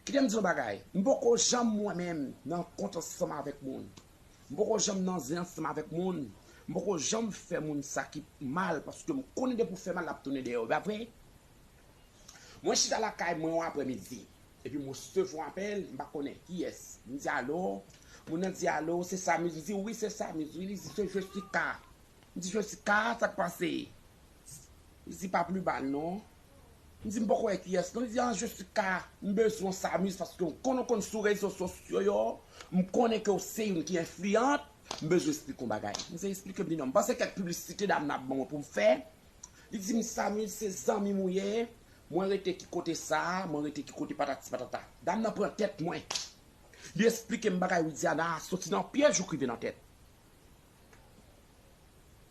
Kite m di yon bagay, m poko janm mwen menm nan kont ansanm avèk moun. M poko janm nan zen ansanm avèk moun. M poko janm fè moun sa ki mal paske m konnen depi w fè mal l ap tounen dèyè w, e pa vre? Mwen chita lakay mwen yon aprè midi, epi m resevwa yon apèl, m pa konnen kiyès. M di alo, moun nan di alo, se Samiz? M di wi se Samiz wi. Li di se Jesika. M di Jesika, sa k pase? Li di pa pli ba non. M di m poko wè kiyès non li di an Jessica m bezwenw sa amise paske m konnen w konn sou rezo sosyo yo m konnen ke w se youn ki enfliyant m bezwen esplike w bagay m di esplike m li non m panse kèk piblisite dam nan ap ban mwen pou m fè li di m sa amise se zanmi m ou ye mwen rete ki kote sa mwen rete ki kote patati patata dam nan pran tèt mwen li esplike m bagay Widiana soti nan pyej jouk rive nan tèt.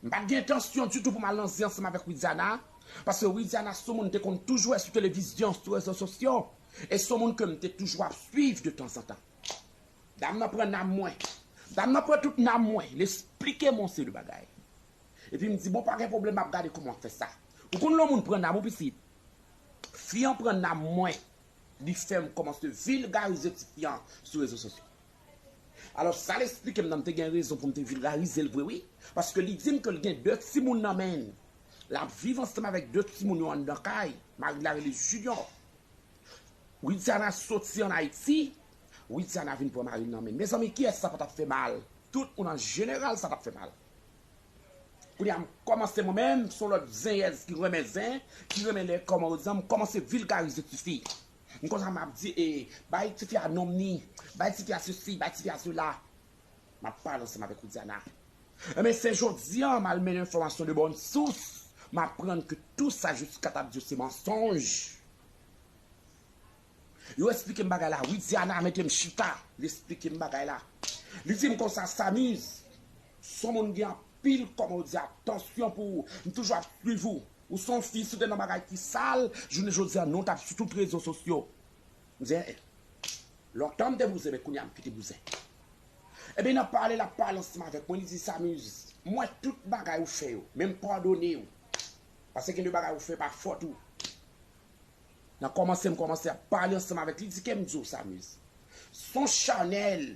M pat gen entansyon ditou pou m al nan zen ansanm avèk Widiana, paske Widiana s on moun m te konn toujou wè sou televizyon, sou rezo sosyo, e s on moun ke m te toujou ap swiv de tanzantan. Dam nan pran nanm mwen, dam nan pran tout nanm mwen, l esplike m on seri de bagay. Epi m di bon pa gen pwoblèm m ap gade kouman w ap fè sa. Ou konn lè on moun pran nanm ou pitit? Fi an pran nanm mwen, li fè m kòmanse vilgarize ti fi an sou rezo sosyo. Alò sa l esplike m nan m te gen rezon pou m te vilgarize l vre wi paske li di m ke l gen 2 timoun nan men l l ap viv ansanm avèk 2 timoun yo anndan kay mari l la rele Junior Widiana soti an Ayiti Widiana vin pran mari l nan men l Mezanmi kiyès sa pa t ap fè mal tout moun an jeneral sa t ap fè mal Kounye a m kòmanse mwen menm m son lòt zenyèz ki renmen zen ki renmen lè kòman yo di an m kòmanse vilgarize tifi M konsa map di ee bay tifi a nom ni, bay tifi a sesi, bay tifi a sela. Map pale ansanm avèk ou Diana. Enben se jodi an mal mennen enfòmasyon de bòn sous, m aprann ke tou sa Jessica tap di yo se mansonj. Yo esplike m bagay la wi Diana mete m chita, li esplike m bagay la. Li di m konsa Samiz, son moun gen anpil kòman ou di a, tansyon pou ou, m toujou ap swiv ou. Ou son fi si w te nan bagay ki sal jounen jodia non w tap sou tout rezo sosyo m di en en lontan m te bouzen men kounya m kite bouzen ebyen nan pale lap pale ansanm avèk mwen li di Samuz m wè tout bagay ou fè yo men m padone w paske gen de bagay ou fè pa fòt ou nan kòmanse m kòmanse ap pale ansanm avèk li di kem di w Samuz son chanèl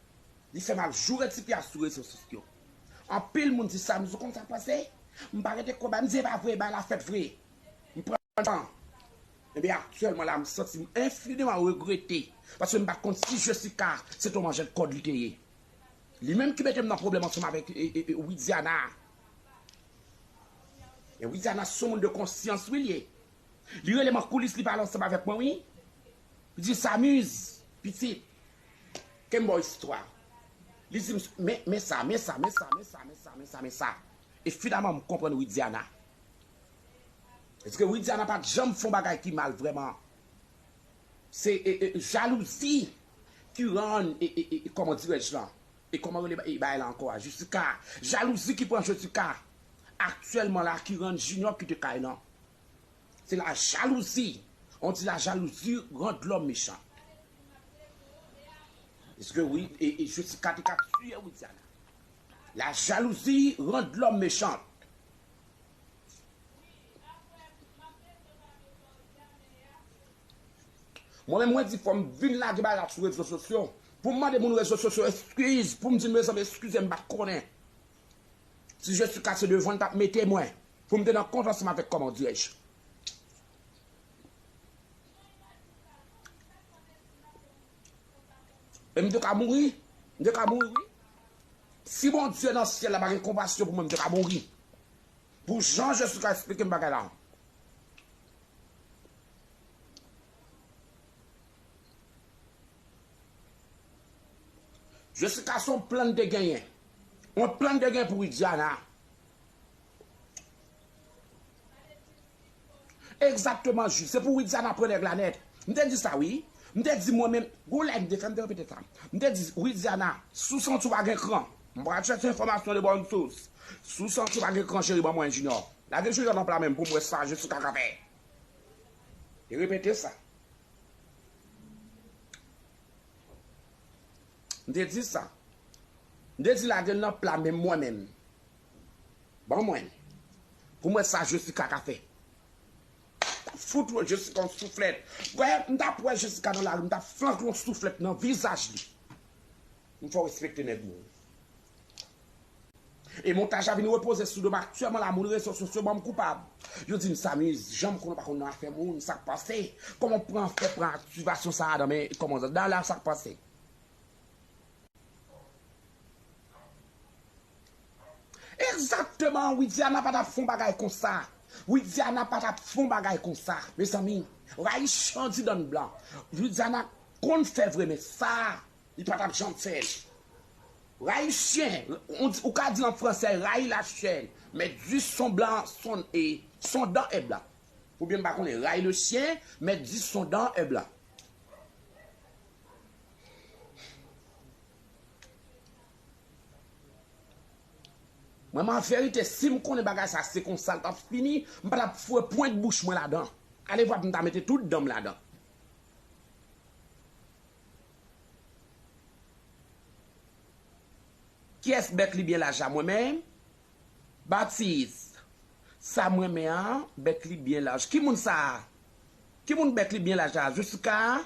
Li fè mal joure ti pyas sou rezo sosyo. Anpil moun di sa m sou konn sa k pase. M pa rete kwè bagay m di e pa vre, bagay la fèt vre. M pran tan. Ebyen aktyèlman la m santi m enfiniman regrete paske m pat konn si Jessica se te yon manjèt kòd li te ye. Li menm ki mete m nan pwoblèm ansanm avèk Widiana a. E Widiana se yon moun de konsyans wi l ye. Li rele m an koulis li pale ansanm avèk mwen wi. Li di Samuz pitit Ken baw istwa. Li di misye men men sa men sa men sa men sa men sa men sa men sa e finaman m konprann Widiana. Paske Widiana pat janm fon bagay ki mal vrèman. Se e e jalouzi ki rann e e e kòman dirèj lan e kòman rele e bagay la ankò a Jessica. Jalouzi ki pran Jessica aktyèlman la ki rann Junior kite kay lan. Se la jalouzi. On di la jalouzi rand lòm mechan. Eske wi e Jessica te ka tuye Widiana. La jalouzi rand lòm mechan. Mwen menm mwen di fòm vin lage bagay la sou rezo sosyo. Poum mande moun rezo sosyo eskiz. Poum di mezanmi eskize m pat konnen. Si je suis kase devan l tap mete mwen pou m te nan kont ansanm avèk kòman dirè je. E m te ka mouri, m te ka mouri wi. Si Bondye nan syèl la pa gen konpasyon pou mwen m te ka mouri. Pou jan je suis ka esplike m bagay la. Jessica son plan te genyen. On plan te gen pou widiana. Exactement Jude se pou widiana pran nèg la nèt m te di sa wi m te di mwen menm gou lè m te fè m te repete sa m te di widiana si w santi w pa gen kran m pral chèche enfòmasyon de bonne source si w santi w pa gen kran cheri ban mwen junior lage junior nan pla men m pou m wè sa jessica ka fè te repete sa. M te di sa. M te di lage l nan pla men mwen menm. Ban mwen. Pou m wè sa Jessica ka fè. M tap fout yon Jessica yon souflèt. Wè, m tap wè Jessica nan lari, m tap flank l yon souflèt nan vizaj li. M fè w respekte nèg mwen. E montaj la vin repoze sou do m aktyèman la moun rezo sosyo banm koupab yo dim sa mi janm konn ou pa konn nan afè moun sak pase kòman pran fè pran aktivasyon sa nan men kòmandan Dala sak pase Egzakteman Widiana pa tap fon bagay konsa Widiana pa tap fon bagay konsa mezanmi rayi chan ti dan blan Widiana konn fè vre men sa Li pa tap janm fè l. Rayi chyen, ou ka di an fransè rayi la chienne, mais du son blanc son e son dent est blanc. Ou byen m pa konnen, rayi le chien, mais du son dent est blanc. Mwen m an verite si m konnen bagay sa se konsa l tap fini, m pa tap foure pwent bouch mwen ladan. Alevwa pou m ta mete tout dan m ladan. Kyes bèt li byen laja mwen men Baptiste sa mwen men an bèt li byen laj ki moun sa ki moun bèt li byen laj la Jessica a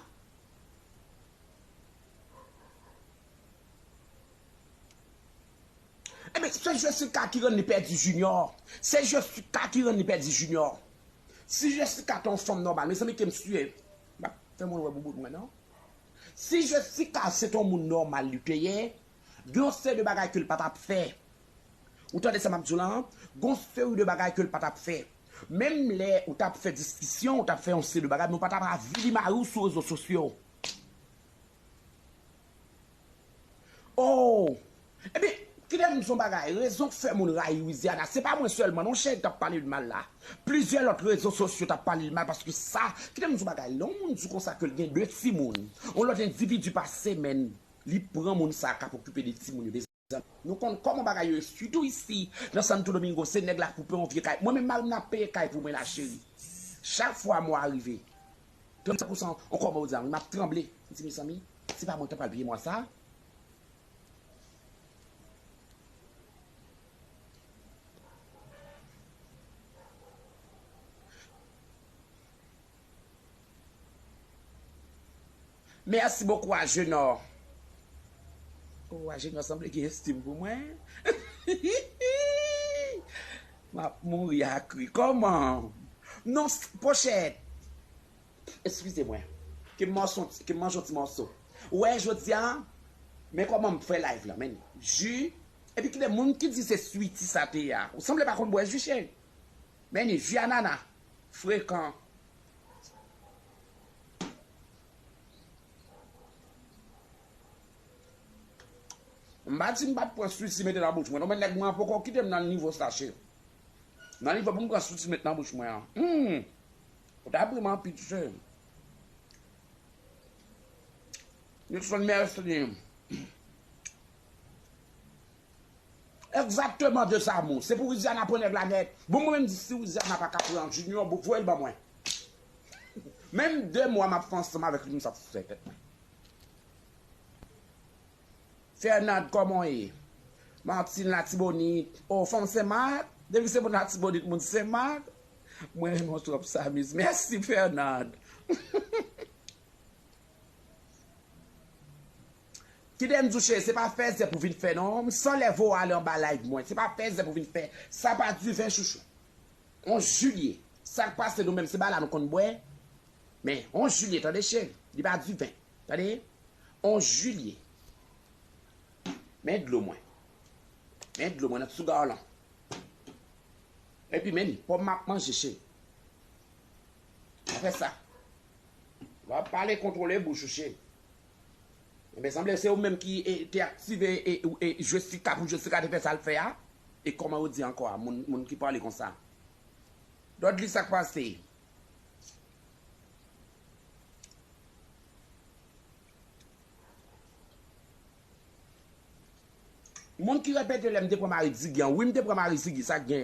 Ebyen se Jessica ki rann li pèdi Junior se Jessica ki rann li pèdi Junior si Jessica te yon fanm nòmal mezanmi kem siye. Map fè moun wè bouboun mwen non. Si Jessica se ton moun nòmal li te ye, gen yon seri de bagay ke l pa tap fè. Ou tande sa map di w lan? Gen yon seri de bagay ke l pa tap fè. Menm lè ou tap fè diskisyon, ou tap fè yon seri de bagay men ou pa tap avili mari w sou rezo sosyo. Ohh! Ebyen, kilè m di son bagay, rezon k fè moun rayi Louisiana, se pa mwen sèlman non cheri k t ap pale l mal la. Plizyè lòt rezo sosyo t ap pale l mal paske sa, kilè m di son bagay, lè yon moun di w konsa ke l gen 2 timoun, yon lòt endividi pase men li pran moun sa k ap okipe 2 timoun yo, mezanmi, nou konn kòman bagay yo ye sitou isi nan Santo Domingo, se nèg la k pou pran yon vye kay, mwen menm mari m nan ap peye kay pou mwen la cheri, chak fwa mwa rive, Ton sa konsa ankò mwen diyan wi map tranble m di mezanmi se pa mwen kap pral peye mwa sa. Merci beaucoup Agenor. Oh Agenor sanble gen estime pou mwen. Map mouri ak ri. Koman? Non pochette. Excusez mwen. Ke m manje yon ti morso. Ou wè jodia men koman m fè live la men ju epi kile moun ki di se sweety sa te a. Ou sanble pa konn bwè ju cheri. Men ni ju anana frekan. M pa di m pa t pran switi mete nan bouch mwen non men nèg mwen an poko kite m nan nivo sa cheri. Nan nivo pou m pran switi met nan bouch mwen an. Humm! Ou ta pri m anpil cheri. Nilson Mercier. Exactement de sa mou. Se pou Widiana pran nèg la nèt. Bon mwen menm di si Widiana pa ka pran Junior bon voyel ban mwen. Menm 2 mwa map fè ansanm avèk li msap fè tèt mwen. Fernand kòman w ye? Martine latibonit oh fanm senmak depi se moun latibonit moun senmak mwen renmen w trop Samuz merci Fernand. Kite m di w cheri se pa fèzè pou vin fè non m san lève w ale anba live mwen se pa fèzè pou vin fè sa pa diven chouchou 11 juillet sak pase nou menm se bala nou konn bwè men 11 juillet tande cheri li pa diven tande 11 juillet men dlo mwen men dlo mwen nan ti sougar lan epi men pòm map manje cheri pa fè sa wap pale kontwole bouch ou cheri. Ebyen sanble se ou menm ki te aktive Jessica pou Jessica te fè sal fè a e kòman ou di ankò a moun ki pale konsa Dodly sak pase? Moun ki repete lèm te pran mari Ziggy an wi m te pran mari Ziggy sak gen?